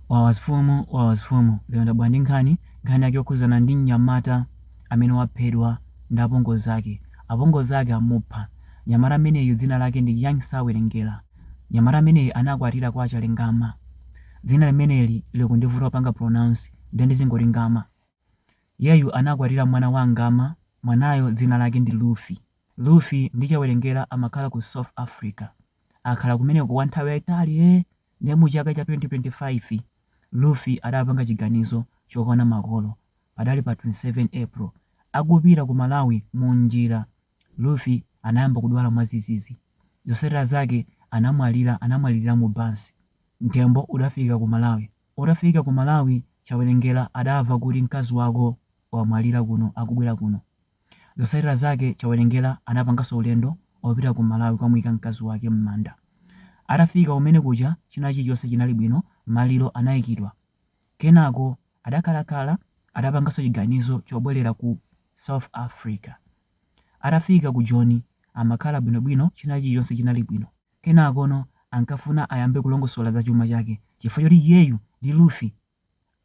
Wawa mfumu wawa mfumu lero ndabwera ndi nkhani, nkhani yake yokhuzana ndi mnyamata amene waphedwa ndi apongozi ake, apongozi ake amupha, mnyamata ameneyu dzina lake ndi Young Chawelengera, mnyamata ameneyu anakwatira kwa Chalengama, dzina limeneli likundivuta kupanga pronounce nde ndizingoti Ngama, iyeyu anakwatira mwana wa Ngama, mwanayo dzina lake ndi Luffy, Luffy ndi Chawelengera amakhala ku South Africa. akhala kumeneko kwa nthawi yaitali ee ndiye mu chaka cha 2025 Luffy adapanga chiganizo chokaona makolo padali pa 27 April akupita ku Malawi mu njira Luffy anayamba kudwala mwazizizi zosatira zake anamwalira anamwalilira mu bus mtembo udafika ku Malawi utafika ku Malawi Chawelengera adava kuti mkazi wako wamwalira kuno akubwera kuno Zosatira zake Chawelengera anapangaso ulendo opita ku Malawi kukamuika mkazi wake mmanda. Atafika kumene kuja china chilichonse chinali bwino maliro anaikidwa. Kenako adakhalakhala adapangaso chiganizo chobwelera ku South Africa. Atafika ku Joni amakhala bwinobwino china chilichonse chinali bwino. Kenakono ankafuna ayambe kulongosola za chuma chake chifukwa choti iyeyu ndi Luffy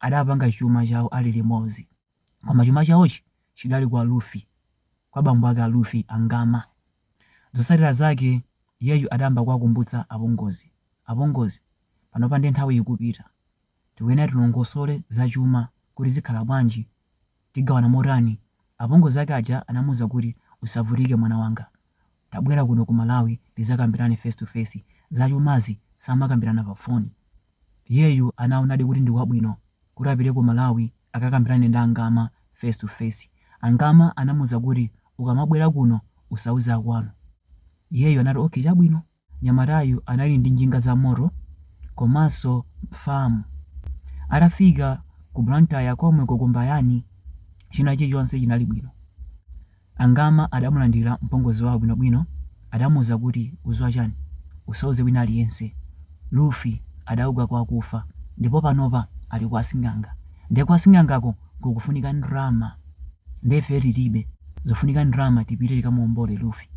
adapanga chuma chawo ali limodzi. Koma chuma chawochi chidali kwa Luffy, kwa bambo ake a Luffy, a Ngama. Zotsatira zake iyeyu adayamba kuwakumbutsa apongozi. Apongozi, panopa ndiye nthawi ikupita. Tikuyenera tilongosole za chuma kuti zikhala bwanji, tigawana motani? Apongozi ake aja anamuuza kuti, Usavutike mwana wanga. Tabwera kuno ku Malawi tizakambirane face to face. Zachumazi samakambirana pa phone. Iyeyu anaonadi kuti ndi kwabwino kuti apite ku Malawi akakambirane ndi a Ngama face to face. A Ngama anamuuza kuti ukamabwera kuno usauze akwanu. Iyeyu anati okay chabwino. Nyamatayu anali ndi njinga za moto komanso farm. Atafika ku Blantyre komweku ku Mbayani china chilichonse chinali bwino. A Ngama adamulandira mpongozi wawo bwinobwino, adamuuza kuti udziwa chani? Usauze wina aliyense. Luffy adauka kwa akufa ndipo panopa ali kwa asing'anga. Nde kwa sing'angako kukufunika ndalama nde ifeyo tilibe, zikufunika ndalama tipite tikamuombole Luffy.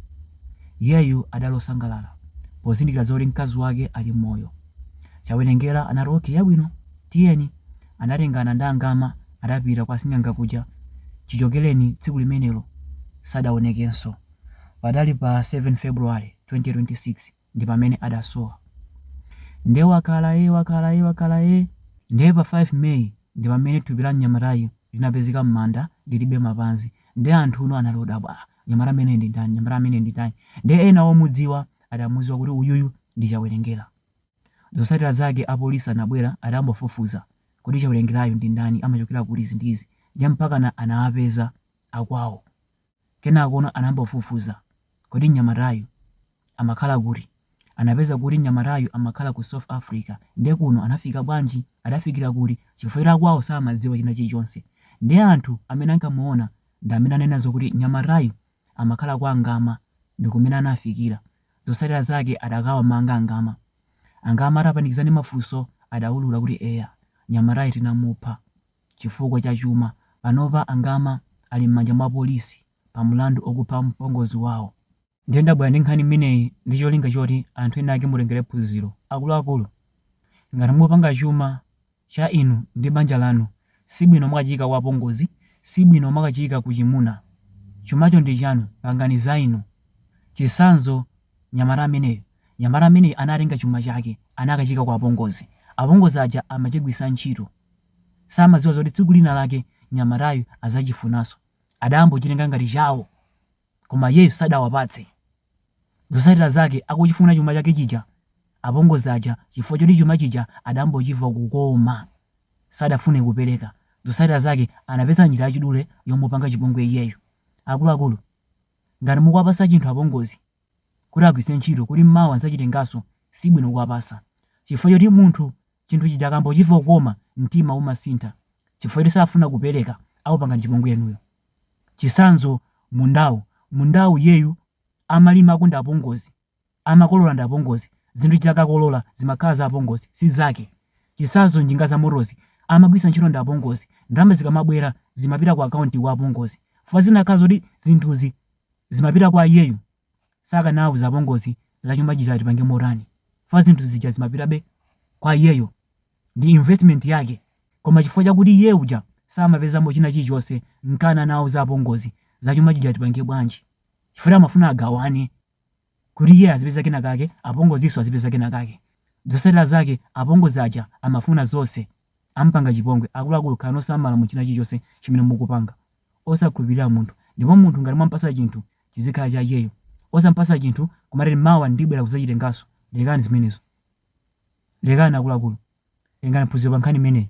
Iyeyu adali osangalala pozindikira zoti mkazi wake ali moyo. Chawelengera anati okay yabwino tiyeni. Anatengana ndi a Ngama adapita kwa sing'anga kuja. Chichokereni tsiku limenelo sadaonekenso. Padali pa 7 February 2026 ndi pamene adasowa. Nde wakhala ee wakhala ee wakhala ee. Nde pa 5 May ndi pamene thupi la mnyamatayu linapezeka m'manda lilibe mapazi. Nde anthuno anali odabwa ah mnyamata ameneyu ndi ndani mnyamata ameneyu ndi ndani. Nde ena omudziwa adamuziwa kuti uyuyu ndi Chawerengera. Zosatira zake a police anabwera atayamba kufufuza kodi Chawelengerayu ndi ndani amachokera kuti izi ndi izi ndiye mpakana anawapeza akwawo kenakono anayamba kufufuza kodi mnyamatayu amakhala kuti anapeza kuti mnyamatayu amakhala ku South Africa ndiye kuno anafika bwanji adafikira kuti chifukwa choti akwawo samadziwa china chilichonse ndiye anthu amene ankamuona ndi amene ananena zokuti mnyamatayu amakhala kwa a Ngama ndi kumene anafikira. Zotsatira zake adakawamanga a Ngama. A Ngama atapanikizidwa ndi mafunso adaulura kuti eya, nyamatayi tinamupha chifukwa cha chuma. Panopa a Ngama ali m'manja mwa polisi pa mlandu okupha mpongozi wawo. Ndiye ndabwera ndi nkhani imeneyi ndi cholinga choti anthu ena ake mutengere phunziro. Akuluakulu, ngati mupanga chuma cha inu ndi banja lanu sibwino mwakachiyika kwa apongozi sibwino mwakachiyika ku chimuna chumacho ndi chanu pangani za inu chisanzo nyamata ameneyu nyamata ameneyu anatenga chuma chake anakachiyika kwa apongozi apongozi aja amachigwiritsa ntchito samaziwa zoti tsiku lina lake nyamatayu azachifunaso adambo chitenga ngati chawo koma iyeyu sadawapatse. Zotsatira zake akuchifuna chuma chake chija, apongozi aja chifukwa choti chuma chija adambochiva kukoma sadafune kupereka. Zotsatira zake anapeza njira yachidule yomupanga chipongwe iyeyu. Akuluakulu, ngati mukuwapatsa chinthu apongozi kuti agwiritse ntchito kuti mawa adzachitenganso, sibwino kuwapatsa chifukwa choti munthu chinthu chija akambochiva kukoma mtima umasintha chifukwa choti safuna kupereka, akupangani chipongwe inuyo. Chitsanzo, Mundawu, mundawu iyeyu amalimako ndi apongozi, amakolola ndi apongozi, zinthuzi akakolola zimakhala za apongozi, si zake. Chitsanzo, Njinga zamotozi amagwiritsa ntchito ndi apongozi. Ndalama zikamabwera zimapita ku akaunti kwa apongozi. Chifukwa zikanakhala zoti zinthuzi zimapita kwa iyeyu, sakanauza apongozi za chuma chija ati tipange motani chifukwa zinthu zija zimapitabe kwa iyeyo. ndi investment yake koma chifukwa chakuti iye uja samapezamo china chilichonse nkana anawauza apongozi za chuma chija tipange bwanji chifukwa amafuna agawane kuti iye azipeza kena kake apongozinso azipeza kena kake zosatira zake apongozi aja amafuna zonse ampanga chipongwe akuluakulu khalani osamala mu china chilichonse chimene mukupanga osakhulupirira munthu ndipo munthu ngati mwampasa chinthu chizikhala cha iyeyo. Osampasa chinthu kumati ati mawa ndibwera kuzachitenganso lekani zimenezo. Lekani akuluakulu tengani phunziro pa nkhani imeneyi.